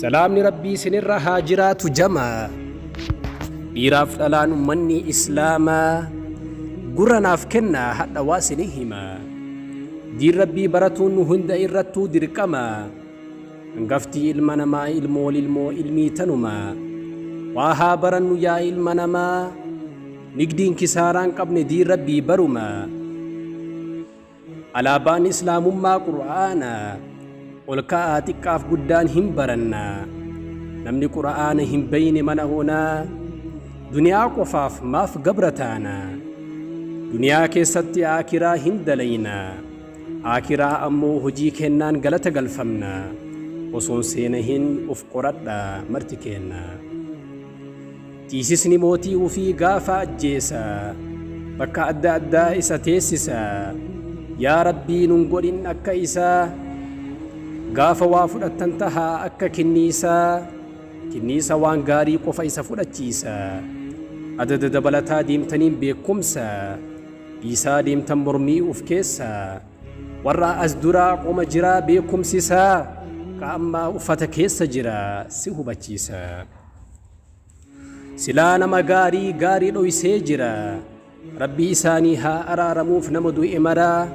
Salaamni Rabbii isinirra haa jiraatu jamaa Dhiiraaf dhalaan ummannii islaamaa Gurra naaf kennaa hadha waa isinii himaa Diin Rabbii baratuun nu hunda irrattuu dirqamaa Hangaftii ilma namaa ilmool ilmoo ilmii tanumaa Waa haa barannu yaa ilma namaa Nigdiin kisaaraan qabne diin Rabbii barumaa Alaabaan Islaamummaa Qur'aana olka'aa xiqqaaf guddaan hin baranna. Namni Qur'aana hin beeyne mana hoonaa duniyaa qofaaf maaf gabra taana. Duniyaa keessatti aakiraa hin dalayna. Aakiraa ammoo hojii kennaan galata galfamna. Osoon seena hin of qoradha marti keenna. Tiisisni mootii ufii gaafa ajjeesa bakka adda addaa isa teessisa yaa rabbii nun godhin akka isaa gaafa waa fudhattan taha akka kinniisaa kinniisa waan gaarii qofa isa fudhachiisa adada dabalataa deemtaniin beekumsa dhiisaa deemtan mormii uf keessa warra as duraa qoma jiraa beekumsisaa ka ammaa uffata keessa jira si hubachiisa. Silaa nama gaarii gaarii dhoysee jira. Rabbii isaanii haa araaramuuf nama du'e maraa.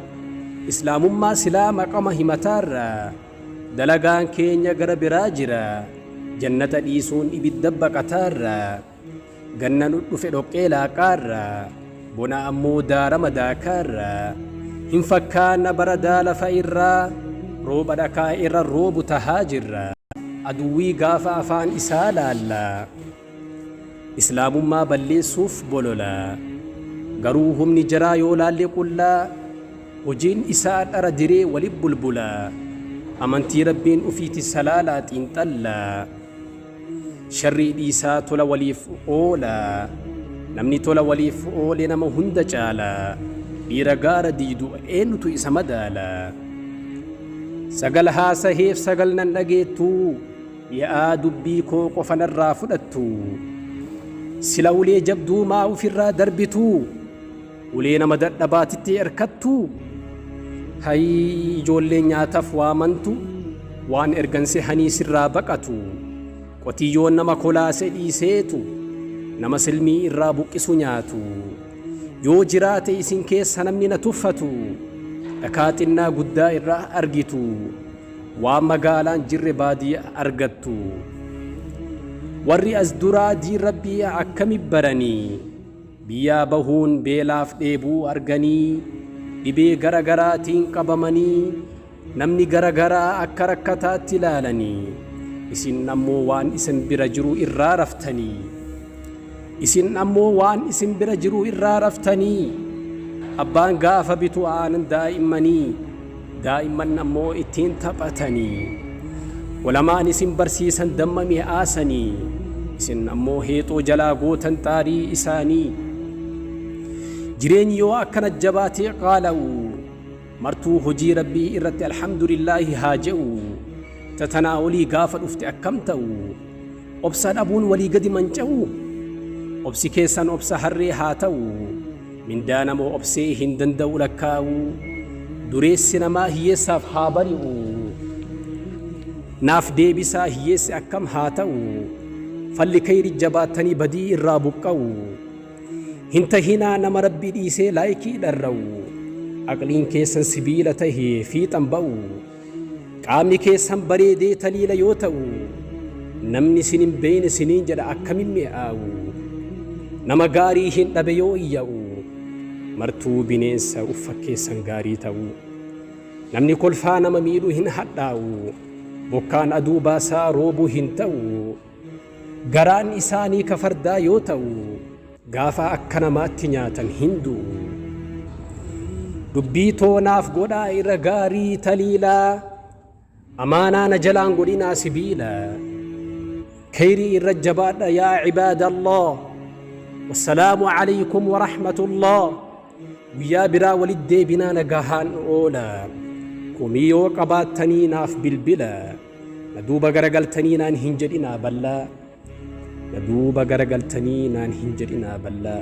Islaamummaa silaa maqama himataarra. Dalagaan keenya gara biraa jira. Jannata dhiisuun ibidda baqataarra. Ganna nu dhufe dhoqqee laaqaarra. Bona ammoo daarama daakaa irraa. Hin fakkaanna baradaa lafa irraa. Rooba dhakaa irra roobu tahaa jirra. Aduwwii gaafa afaan isaa laalla. Islaamummaa balleessuuf bolola. Garuu humni jaraa yoo laalle qulla. Hojiin isaa dhara diree wali bulbula. Amantii Rabbiin ufiiti salaalaa xiinxalla. Sharrii dhiisaa tola waliif oolaa. Namni tola waliif oole nama hunda caala. Dhiira gaara diidu eenyutu isa madaala? Sagal haasaheef sagal nan dhageettu. Mi'aa dubbii koo qofa narraa fudhattu. Sila ulee jabduu maa ofirraa darbitu? Ulee nama dadhabaa tittee erkattu hayii ijoollee nyaataf waamantu waan ergan sehanii sirraa baqatu qotiyyoon nama kolaase dhiiseetu nama silmii irraa buqqisu nyaatu yoo jiraate isin keessa namni na tuffatu dhakaa xinnaa guddaa irraa argitu waan magaalaan jirre baadiyya argattu warri as duraa diin rabbii akkami baranii Biyyaa bahuun beelaaf dheebuu arganii dhibee gara garaatiin qabamanii namni gara garaa akka rakkataatti ilaalanii isin ammoo waan isin bira jiru irraa raftanii isin ammoo waan isin bira jiru irraa raftanii abbaan gaafa bitu aanan daa'immanii Daa'imman ammoo ittiin taphatanii. Ulamaan isin barsiisan damma mi'aasanii. Isin ammoo heexoo jalaa gootan xaarii isaanii. Jireenyi yoo akkana jabaatee qaala'u. Martuu hojii rabbii irratti alhamdulillaahi haa je'u. Tatanaa olii gaafa dhufte akkam ta'u. Obsa dhabuun walii gadi manca'u. Obsi keessan obsa harree haa ta'u. Mindaa nama obsee hin danda'u lakkaa'u. Dureessi namaa hiyyeessaaf haa bari'u. Naaf deebisaa hiyyeessi akkam haa ta'u. Falli kayri jabaattanii badii irraa buqqa'u. Hin tahinaa nama rabbii dhiisee laayikii dharra'u. Aqliin keessan sibiila tahee fiixan ba'u. Qaamni keessan bareedee taliila yoo ta'u, namni isin hin beeyne isiniin jedha akkamin mi'aawu. Nama gaarii hin dhabe yoo iyya'u, martuu bineensa uf fakkeessan gaarii ta'u. Namni kolfaa nama miidhu hin hadhaa'u, bokkaan aduu baasaa roobuu hin ta'u. Garaan isaanii ka fardaa yoo ta'u, Gaafa akka namaatti nyaatan hin du'u. Dubbii too naaf godhaa irra gaarii taliilaa amaanaa na jalaan godhinaa sibiila keyrii irra jabaadha yaa cibaadallah wassalaamu calaykum warahmatullah guyyaa biraa walit deebinaa nagahaan oola komii yoo qabaattanii naaf bilbila na duuba garagaltanii naan hin jedhinaa ballaa Na duuba garagaltanii naan hin jedhinaa ballaa.